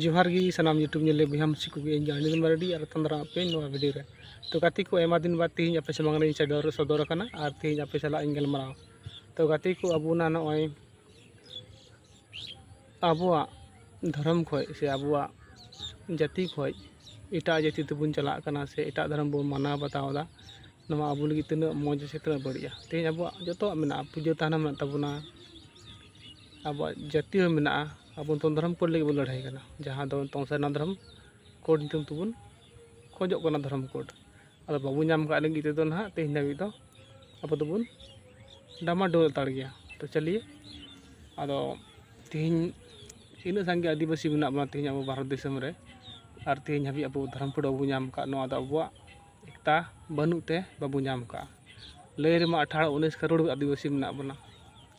ᱡᱚᱦᱟᱨ ᱜᱮ ᱥᱟᱱᱟᱢ ᱤᱭᱩᱴᱩᱵᱽ ᱧᱮᱞ ᱵᱚᱭᱦᱟ ᱢᱤᱥᱤ ᱠᱚᱜᱮ ᱤᱧ ᱟᱹᱰᱤ ᱫᱤᱱ ᱢᱟᱨᱰᱤ ᱟᱨ ᱛᱟᱱᱫᱨᱟ ᱟᱯᱮ ᱱᱚᱣᱟ ᱵᱷᱤᱰᱤᱭᱳ ᱨᱮ ᱛᱚ ᱜᱟᱛᱮ ᱠᱚ ᱟᱭᱢᱟ ᱫᱤᱱ ᱵᱟᱫ ᱛᱮᱦᱮᱧ ᱟᱯᱮ ᱥᱟᱢᱟᱝ ᱨᱮᱧ ᱥᱚᱫᱚᱨ ᱥᱚᱫᱚᱨ ᱟᱠᱟᱱᱟ ᱟᱨ ᱛᱮᱦᱮᱧ ᱟᱯᱮ ᱥᱟᱞᱟᱜ ᱤᱧ ᱜᱟᱞᱢᱟᱨᱟᱣ ᱛᱚ ᱜᱟᱛᱮ ᱠᱚ ᱟᱵᱚᱱᱟᱜ ᱱᱚᱜᱼᱚᱭ ᱟᱵᱚᱣᱟᱜ ᱫᱷᱚᱨᱚᱢ ᱠᱷᱚᱡ ᱥᱮ ᱟᱵᱚᱣᱟᱜ ᱡᱟᱹᱛᱤ ᱠᱷᱚᱡ ᱮᱴᱟᱜ ᱡᱟᱹᱛᱤ ᱛᱮᱵᱚᱱ ᱪᱟᱞᱟᱜ ᱠᱟᱱᱟ ᱥᱮ ᱮᱴᱟᱜ ᱫᱷᱚᱨᱚᱢ ᱵᱚᱱ ᱢᱟᱱᱟᱣ ᱵᱟᱛᱟᱣ ᱮᱫᱟ ᱱᱚᱣᱟ ᱟᱵᱚ ᱞᱟᱹᱜᱤᱫ ᱛᱤᱱᱟᱹᱜ ᱢᱚᱡᱽ ᱥᱮ ᱛᱤᱱᱟᱹᱜ ᱵᱟᱹᱲᱤᱡᱼᱟ ᱛᱮᱦᱮᱧ ᱟᱵᱚᱣᱟᱜ ᱡᱚᱛᱚᱣᱟᱜ ᱢᱮᱱᱟᱜᱼᱟ ᱯᱩᱡᱟᱹ ᱛᱷᱟᱱ ᱦᱚᱸ ᱢᱮᱱᱟᱜ ᱛᱟᱵᱚᱱᱟ ᱟᱵᱚᱣᱟᱜ ᱡᱟᱹᱛᱤ ᱦᱚᱸ ᱢᱮᱱᱟᱜᱼᱟ ᱟᱵᱚ ᱫᱚ ᱫᱷᱚᱨᱚᱢ ᱠᱳᱰ ᱞᱟᱹᱜᱤᱫ ᱵᱚᱱ ᱞᱟᱹᱲᱦᱟᱹᱭ ᱠᱟᱱᱟ ᱡᱟᱦᱟᱸ ᱫᱚ ᱱᱤᱛᱚᱝ ᱥᱟᱨᱱᱟ ᱫᱷᱚᱨᱚᱢ ᱠᱳᱰ ᱧᱩᱛᱩᱢ ᱛᱮᱵᱚᱱ ᱠᱷᱚᱡᱚᱜ ᱠᱟᱱᱟ ᱫᱷᱚᱨᱚᱢ ᱠᱳᱰ ᱟᱫᱚ ᱵᱟᱵᱚ ᱧᱟᱢ ᱠᱟᱜ ᱞᱟᱹᱜᱤᱫ ᱛᱮᱫᱚ ᱦᱟᱸᱜ ᱛᱮᱦᱮᱧ ᱫᱷᱟᱹᱵᱤᱡ ᱫᱚ ᱟᱵᱚ ᱫᱚᱵᱚᱱ ᱰᱟᱢᱟ ᱰᱳᱞ ᱦᱟᱛᱟᱲ ᱜᱮᱭᱟ ᱛᱚ ᱪᱟᱹᱞᱤᱭᱮ ᱟᱫᱚ ᱛᱮᱦᱮᱧ ᱤᱱᱟᱹᱜ ᱥᱟᱸᱜᱮ ᱟᱹᱫᱤᱵᱟᱹᱥᱤ ᱢᱮᱱᱟᱜ ᱵᱚᱱᱟ ᱛᱮᱦᱮᱧ ᱟᱵᱚ ᱵᱷᱟᱨᱚᱛ ᱫᱤᱥᱚᱢ ᱨᱮ ᱟᱨ ᱛᱮᱦᱮᱧ ᱦᱟᱹᱵᱤᱡ ᱟᱵᱚ ᱫᱷᱚᱨᱚᱢ ᱠᱳᱰ ᱵᱟᱵᱚ ᱧᱟᱢ ᱠᱟᱜ ᱱᱚᱣᱟ ᱫᱚ ᱟᱵᱚᱣᱟᱜ ᱮᱠᱛᱟ ᱵᱟᱹᱱᱩᱜ ᱛᱮ ᱵᱟᱵᱚ ᱧᱟᱢ ᱠᱟᱜᱼᱟ ᱞᱟᱹᱭ ᱨᱮᱢᱟ ᱟᱴᱷᱟᱨᱚ ᱩᱱᱤᱥ ᱠᱟᱨᱳᱲ ᱟᱹᱫᱤᱵᱟᱹᱥᱤ ᱢᱮᱱᱟᱜ ᱵᱚᱱᱟ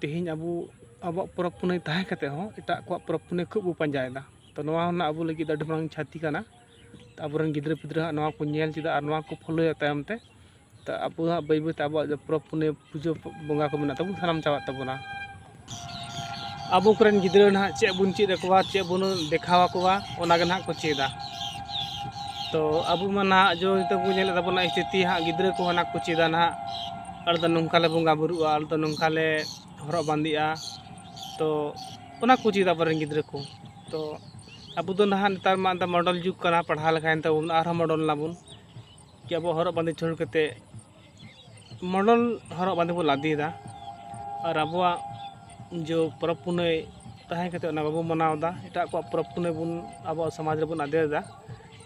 ᱛᱮᱦᱮᱧ ᱟᱵᱚ ᱟᱵᱚᱣᱟᱜ ᱯᱚᱨᱚᱵᱽ ᱯᱩᱱᱟᱹᱭ ᱛᱟᱦᱮᱸ ᱠᱟᱛᱮ ᱦᱚᱸ ᱮᱴᱟᱜ ᱠᱚᱣᱟᱜ ᱯᱚᱨᱚᱵᱽ ᱯᱩᱱᱟᱹᱭ ᱠᱷᱩᱵ ᱵᱚ ᱯᱟᱸᱡᱟᱭᱮᱫᱟ ᱛᱚ ᱱᱚᱣᱟ ᱨᱮᱱᱟᱜ ᱟᱵᱚ ᱞᱟᱹᱜᱤᱫ ᱟᱹᱰᱤ ᱢᱟᱨᱟᱝ ᱠᱷᱚᱛᱤ ᱠᱟᱱᱟ ᱛᱚ ᱟᱵᱚ ᱨᱮᱱ ᱜᱤᱫᱽᱨᱟᱹ ᱯᱤᱫᱽᱨᱟᱹ ᱦᱟᱸᱜ ᱱᱚᱣᱟ ᱠᱚ ᱧᱮᱞ ᱪᱮᱫᱟ ᱟᱨ ᱱᱚᱣᱟ ᱠᱚ ᱯᱷᱳᱞᱳᱭᱟ ᱛᱟᱭᱚᱢ ᱛᱮ ᱛᱚ ᱟᱵᱚ ᱦᱟᱸᱜ ᱵᱟᱹᱭ ᱵᱟᱹᱭ ᱛᱮ ᱟᱵᱚᱣᱟᱜ ᱯᱚᱨᱚᱵᱽ ᱯᱩᱱᱟᱹᱭ ᱯᱩᱡᱟᱹ ᱵᱚᱸᱜᱟ ᱠᱚ ᱢᱮᱱᱟᱜ ᱛᱟᱵᱚᱱᱟ ᱥᱟᱱᱟᱢ ᱪᱟᱵᱟᱜ ᱛᱟᱵᱚᱱᱟ ᱟᱵᱚ ᱠᱚᱨᱮᱱ ᱜᱤᱫᱽᱨᱟᱹ ᱱᱟᱦᱟᱜ ᱪᱮᱫ ᱵᱚᱱ ᱪᱮᱫ ᱟᱠᱚᱣᱟ ᱪᱮᱫ ᱵᱚᱱ ᱫᱮᱠᱷᱟᱣ ᱟᱠᱚᱣᱟ ᱚᱱᱟ ᱜᱮ ᱱᱟᱦᱟᱜ ᱠᱚ ᱪᱮᱫᱟ ᱛᱚ ᱟᱵᱚ ᱢᱟ ᱱᱟᱦᱟᱜ ᱡᱚ ᱛᱮᱵᱚᱱ ᱧᱮᱞᱮᱫ ᱛᱟᱵᱚᱱᱟ ᱥᱛᱷᱤᱛᱤ ᱦᱟᱸᱜ ᱜᱤᱫᱽᱨᱟᱹ ᱠᱚ ᱚᱱᱟ ᱠᱚ ᱪᱮᱫᱟ ᱱᱟᱦᱟᱜ ᱟᱞᱮ ᱫᱚ ᱱᱚᱝᱠᱟ ᱞᱮ ᱵᱚᱸᱜᱟ ᱵᱳᱨᱳᱜᱼᱟ ᱟᱞᱮ ᱫᱚ ᱱᱚᱝᱠᱟ ᱞᱮ ᱦᱚᱨᱚᱜ ᱵᱟᱸᱫᱮᱜᱼᱟ ᱛᱚ ᱚᱱᱟ ᱠᱚ ᱪᱮᱫ ᱟᱵᱚ ᱨᱮᱱ ᱜᱤᱫᱽᱨᱟᱹ ᱠᱚ ᱛᱚ ᱟᱵᱚ ᱫᱚ ᱱᱟᱦᱟᱜ ᱱᱮᱛᱟᱨ ᱢᱟ ᱮᱱᱛᱮᱫ ᱢᱚᱰᱮᱞ ᱡᱩᱜᱽ ᱠᱟᱱᱟ ᱯᱟᱲᱦᱟᱣ ᱞᱮᱠᱷᱟᱱ ᱛᱟᱵᱚᱱ ᱟᱨᱦᱚᱸ ᱢᱚᱰᱮᱞ ᱱᱟᱵᱚᱱ ᱠᱤ ᱟᱵᱚ ᱦᱚᱨᱚᱜ ᱵᱟᱸᱫᱮ ᱪᱷᱟᱹᱲ ᱠᱟᱛᱮᱫ ᱢᱚᱰᱮᱞ ᱦᱚᱨᱚᱜ ᱵᱟᱸᱫᱮ ᱵᱚᱱ ᱞᱟᱫᱮᱭᱮᱫᱟ ᱟᱨ ᱟᱵᱚᱣᱟᱜ ᱡᱚ ᱯᱚᱨᱚᱵᱽ ᱯᱩᱱᱟᱹᱭ ᱛᱟᱦᱮᱸ ᱠᱟᱛᱮᱫ ᱚᱱᱟ ᱵᱟᱵᱚᱱ ᱢᱟᱱᱟᱣᱫᱟ ᱮᱴᱟᱜ ᱠᱚᱣᱟᱜ ᱯᱚᱨᱚᱵᱽ ᱯᱩᱱᱟᱹᱭ ᱵᱚᱱ ᱟᱵᱚᱣᱟᱜ ᱥᱚᱢᱟᱡᱽ ᱨᱮᱵᱚᱱ ᱟᱫᱮᱨᱫᱟ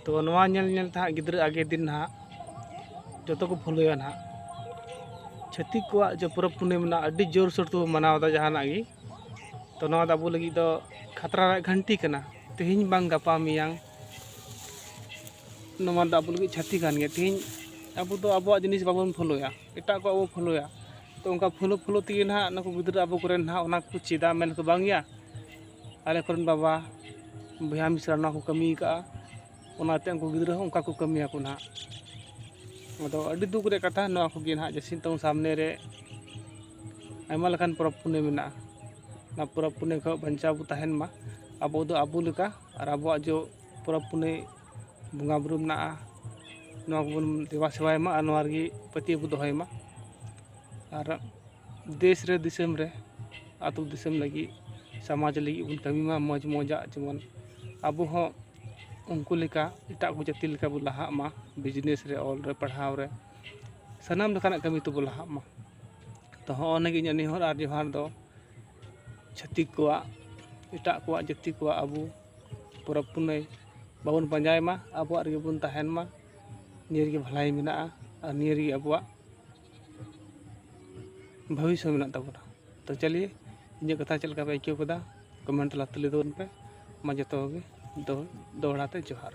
ᱛᱚ ᱱᱚᱣᱟ ᱧᱮᱞ ᱧᱮᱞ ᱛᱮ ᱦᱟᱸᱜ ᱜᱤᱫᱽᱨᱟᱹ ᱟᱜᱮ ᱫᱤᱱ ᱦᱟᱸᱜ ᱡᱚᱛᱚ ᱠᱚ ᱯᱷᱳᱞᱳᱭᱟ ᱦᱟᱸᱜ ᱪᱷᱟᱹᱛᱤᱠ ᱠᱚᱣᱟᱜ ᱡᱮ ᱯᱚᱨᱚᱵᱽ ᱯᱩᱱᱟᱹᱭ ᱢᱮᱱᱟᱜᱼᱟ ᱟᱹᱰᱤ ᱡᱳᱨᱥᱳᱨ ᱛᱮᱵᱚᱱ ᱢᱟᱱᱟᱣᱫᱟ ᱡᱟᱦᱟᱱᱟᱜ ᱜᱮ ᱛᱚ ᱱᱚᱣᱟ ᱫᱚ ᱟᱵᱚ ᱞᱟᱹᱜᱤᱫ ᱫᱚ ᱠᱷᱟᱛᱨᱟ ᱨᱮᱭᱟᱜ ᱜᱷᱟᱹᱱᱴᱤ ᱠᱟᱱᱟ ᱛᱮᱦᱮᱧ ᱵᱟᱝ ᱜᱟᱯᱟ ᱢᱮᱭᱟᱝ ᱱᱚᱣᱟ ᱫᱚ ᱟᱵᱚ ᱞᱟᱹᱜᱤᱫ ᱪᱷᱟᱹᱛᱤ ᱠᱟᱱ ᱜᱮᱭᱟ ᱛᱮᱦᱮᱧ ᱟᱵᱚ ᱫᱚ ᱟᱵᱚᱣᱟᱜ ᱡᱤᱱᱤᱥ ᱵᱟᱵᱚᱱ ᱯᱷᱳᱞᱳᱭᱟ ᱮᱴᱟᱜ ᱠᱚᱣᱟᱜ ᱵᱚᱱ ᱯᱷᱳᱞᱳᱭᱟ ᱛᱚ ᱚᱱᱠᱟ ᱯᱷᱳᱞᱳ ᱯᱷᱳᱞᱳ ᱛᱮᱜᱮ ᱦᱟᱸᱜ ᱱᱩᱠᱩ ᱜᱤᱫᱽᱨᱟᱹ ᱟᱵᱚ ᱠᱚᱨᱮᱱ ᱦᱟᱸᱜ ᱚᱱᱟ ᱠᱚ ᱪᱮᱫᱟ ᱢᱮᱱᱟᱠᱚ ᱵᱟᱝᱭᱟ ᱟᱞᱮ ᱠᱚᱨᱮᱱ ᱵᱟᱵᱟ ᱵᱚᱭᱦᱟ ᱢᱤᱥᱨᱟ ᱱᱚᱣᱟ ᱠᱚ ᱠᱟᱹᱢᱤ ᱟᱠᱟᱫᱼᱟ ᱚᱱᱟᱛᱮ ᱩᱱᱠᱩ ᱜᱤᱫᱽᱨᱟᱹ ᱦᱚᱸ ᱚᱱᱠᱟ ᱠᱚ ᱠᱟᱹᱢᱤᱭᱟᱠᱚ ᱱᱟᱦᱟᱜ ᱟᱫᱚ ᱟᱹᱰᱤ ᱫᱩᱠ ᱨᱮᱭᱟᱜ ᱠᱟᱛᱷᱟ ᱱᱚᱣᱟ ᱠᱚᱜᱮ ᱱᱟᱦᱟᱜ ᱡᱟᱹᱥᱛᱤ ᱱᱤᱛᱚᱝ ᱥᱟᱢᱱᱮ ᱨᱮ ᱟᱭᱢᱟ ᱞᱮᱠᱟᱱ ᱯᱚᱨᱚᱵᱽ ᱯᱩᱱᱟᱹᱭ ᱢᱮᱱᱟᱜᱼᱟ ᱚᱱᱟ ᱯᱚᱨᱚᱵᱽ ᱯᱩᱱᱟᱹᱭ ᱠᱷᱚᱱ ᱵᱟᱧᱪᱟᱣ ᱵᱚ ᱛᱟᱦᱮᱱ ᱢᱟ ᱟᱵᱚ ᱫᱚ ᱟᱵᱚ ᱞᱮᱠᱟ ᱟᱨ ᱟᱵᱚᱣᱟᱜ ᱡᱚ ᱯᱚᱨᱚᱵᱽ ᱯᱩᱱᱟᱹᱭ ᱵᱚᱸᱜᱟ ᱵᱩᱨᱩ ᱢᱮᱱᱟᱜᱼᱟ ᱱᱚᱣᱟ ᱠᱚᱵᱚᱱ ᱫᱮᱵᱟ ᱥᱮᱵᱟᱭ ᱢᱟ ᱟᱨ ᱱᱚᱣᱟ ᱨᱮᱜᱮ ᱯᱟᱹᱛᱭᱟᱹᱣ ᱵᱚᱱ ᱫᱚᱦᱚᱭ ᱢᱟ ᱟᱨ ᱫᱮᱥ ᱨᱮ ᱫᱤᱥᱚᱢ ᱨᱮ ᱟᱛᱳ ᱫᱤᱥᱚᱢ ᱞᱟᱹᱜᱤᱫ ᱥᱚᱢᱟᱡᱽ ᱞᱟᱹᱜᱤᱫ ᱵᱚᱱ ᱠᱟᱹᱢᱤ ᱢᱟ ᱢᱚᱡᱽ ᱢᱚᱡᱟᱜ ᱡᱮᱢᱚᱱ ᱟᱵᱚ ᱦᱚᱸ ᱩᱱᱠᱩ ᱞᱮᱠᱟ ᱮᱴᱟᱜ ᱠᱚ ᱡᱟᱹᱛᱤ ᱞᱮᱠᱟ ᱵᱚᱱ ᱞᱟᱦᱟᱜ ᱢᱟ ᱵᱤᱡᱽᱱᱮᱥ ᱨᱮ ᱚᱞ ᱨᱮ ᱯᱟᱲᱦᱟᱣ ᱨᱮ ᱥᱟᱱᱟᱢ ᱞᱮᱠᱟᱱᱟᱜ ᱠᱟᱹᱢᱤ ᱛᱮᱵᱚᱱ ᱞᱟᱦᱟᱜ ᱢᱟ ᱛᱚ ᱦᱚᱸᱜᱼᱚ ᱱᱤᱭᱟᱹᱜᱮ ᱤᱧᱟᱹᱜ ᱱᱮᱦᱚᱨ ᱟᱨ ᱡᱚᱦᱟᱨ ᱫᱚ ᱪᱷᱟᱹᱛᱤᱠ ᱠᱚᱣᱟᱜ ᱮᱴᱟᱜ ᱠᱚᱣᱟᱜ ᱡᱟᱹᱛᱤ ᱠᱚᱣᱟᱜ ᱟᱵᱚ ᱯᱚᱨᱚᱵᱽ ᱯᱩᱱᱟᱹᱭ ᱵᱟᱵᱚᱱ ᱯᱟᱸᱡᱟᱭ ᱢᱟ ᱟᱵᱚᱣᱟᱜ ᱨᱮᱜᱮ ᱵᱚᱱ ᱛᱟᱦᱮᱱ ᱢᱟ ᱱᱤᱭᱟᱹ ᱨᱮᱜᱮ ᱵᱷᱟᱹᱞᱟᱹᱭ ᱢᱮᱱᱟᱜᱼᱟ ᱟᱨ ᱱᱤᱭᱟᱹ ᱨᱮᱜᱮ ᱟᱵᱚᱣᱟᱜ ᱵᱷᱚᱵᱤᱥᱥᱚᱛ ᱢᱮᱱᱟᱜ ᱛᱟᱵᱚᱱᱟ ᱛᱚ ᱪᱟᱞᱤᱭᱮ ᱤᱧᱟᱹᱜ ᱠᱟᱛᱷᱟ ᱪᱮᱫ ᱞᱮᱠᱟ ᱯᱮ ᱟᱹᱭᱠᱟᱹᱣ ᱠᱮᱫᱟ ᱠᱚᱢᱮᱱᱴ ᱛᱟᱞᱟᱛᱮ ᱞᱟᱹᱭ ᱛᱟᱵᱚᱱ ᱯᱮ ᱢᱟ ᱡᱚᱛᱚ ᱠᱚᱜᱮ ᱫᱚᱦᱲᱟ ᱛᱮ ᱡᱚᱦᱟᱨ